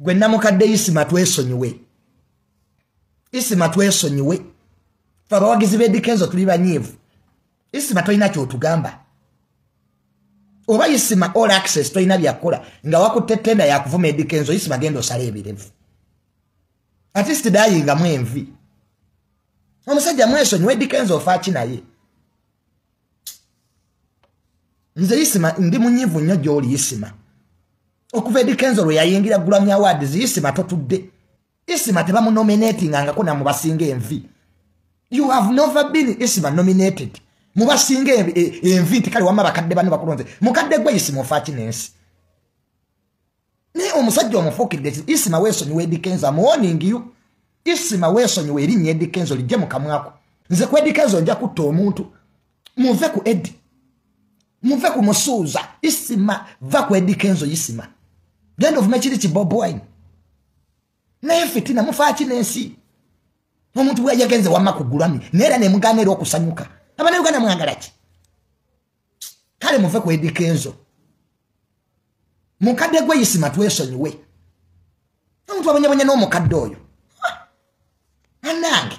gwe namukadde isima twesonyiwe isima twesonyiwe fe abawagizi bedikenzo tuli banyiivu isima tolina kyotugamba oba isima all access tolina byakukola nga wakutte tenda yakuvuma edikenzo isima genda osala ebirevu atist dayingamu envi omusajja mwesonyiwe edikenzo ofaaki naye nze isima ndi munyiivu nnyo gyoli isima okuva edi kenzo lwe yayingira grammy awards isima totudde isima tebamunominatingangako namubasinga envi you have never been isima nominated mubasinga e, envi nti kale wama bakadde bano bakulonze mukadde gwe isima ofaaki nensi naye omusajja omufuukidde isima weesonyiwa edi kenzo amuwoningiyo isima weesonyiwa erinnya edi kenzo lijje mukamwako nze ku edi kenzo nja kutta omuntu muve ku edi muve ku musuuza isima va ku edikenzo isima genda ovume kiri ki bob wine naye fitina mufaaki n'ensi omuntu bweyagenze wamma ku gulami naye era nemugaana era okusanyuka abana uganda mwagala ki kale muve ku edikenzo mukadde gwe isima twesonyiwe omuntu abonyabonya n'omukadde oyo anange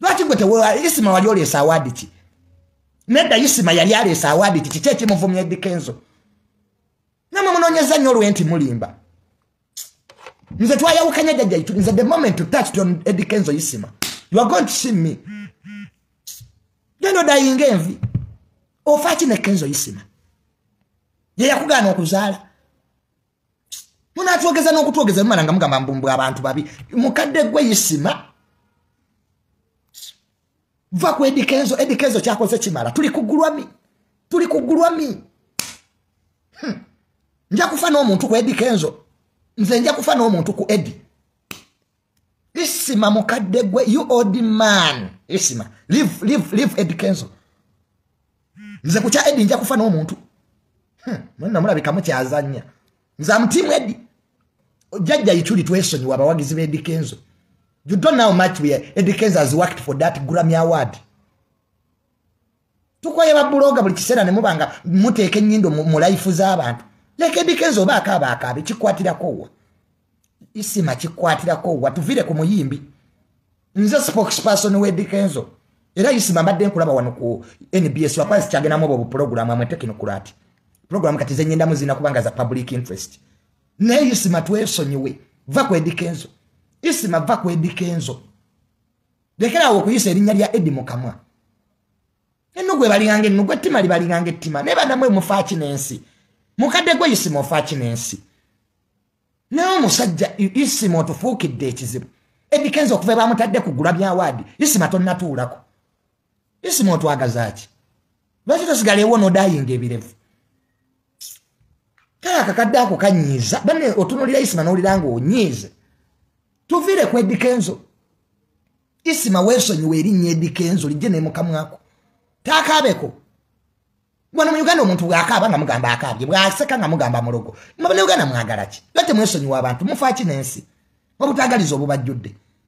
lwaki gwe tewewa isima wali oleesa awaadi ki nedda isima yali aleesa awaadi ki kiki ekimuvumya edikenzo namwe munonyeza nnyo olwe nti mulimba nze twayawukanya jajja itu nze the moment to touch on edikenzo isima you are going to see me gendo dayinga envi ofa ki ne kenzo isima yeyakugaana okuzaala munatwogeza n'okutwogeza lumala nga mugamba mbumbwa abantu babi mukadde gwe isima va ku edikenzo edikenzo kyakoze kimala tuli kugulwami tuli kugulwami hmm. nja kufa n'omuntu ku edikenzo nze nja kufa n'omuntu ku edi isima mukadde gwe you old man isima live live live ed kenzo nze ku kya edi nja kufa n'omuntu hmm, mwenna mulabika mukyazanya nze amutiimu edi jajja ichuli twesonyiwa abawagizi ba edi kenzo you don't know much we edi kenzo has worked for that grammy award tukoye babuloga buli kiseera ne muba nga muteeka ennyindo mu layifu z'abantu leka edikenzi oba akaaba akaabe kikwatirako wa isima kikwatirako wa tuvire ku muyimbi nze spokesperson wedikenzo era isima mbadde nkulaba wano ku nbs wakuba zikyagendamu obwo bupulogulamu amwe tekinokulaati pulogulamu kati zenyendamu zirina kubanga za public interest naye isima twesonyiwe va ku edikenzo isima va ku edikenzo lekeraawo okuyisa erinnya lya edi mu kamwa enno gwe balinganga enno gwe ttima libalinganga ettima naye banamwe mufaaki n'ensi mukadde gwe isima ofaaki n'ensi naye omusajja isima otufuukidde ekizibu edikenza okuva ebamutadde ku gula byawaadi isima tonnatuulako isima otwagazaaki lwaki tosigala ewo nodayinga ebirevu kale akakadde ako kanyiiza bane otunulira isima nowulira nga onyiize tuviire ku edikenzo isima weesonyiwa erinnya edikenzo lijje nemukamwako taakaabeko bwana mu uganda omuntu bwakaaba nga mugamba akaabye bwaseka nga mugamba mulogo mabana uganda mwagala ki lwa temwesonyiwa abantu mufaaki n'ensi obutagaliza obubajjudde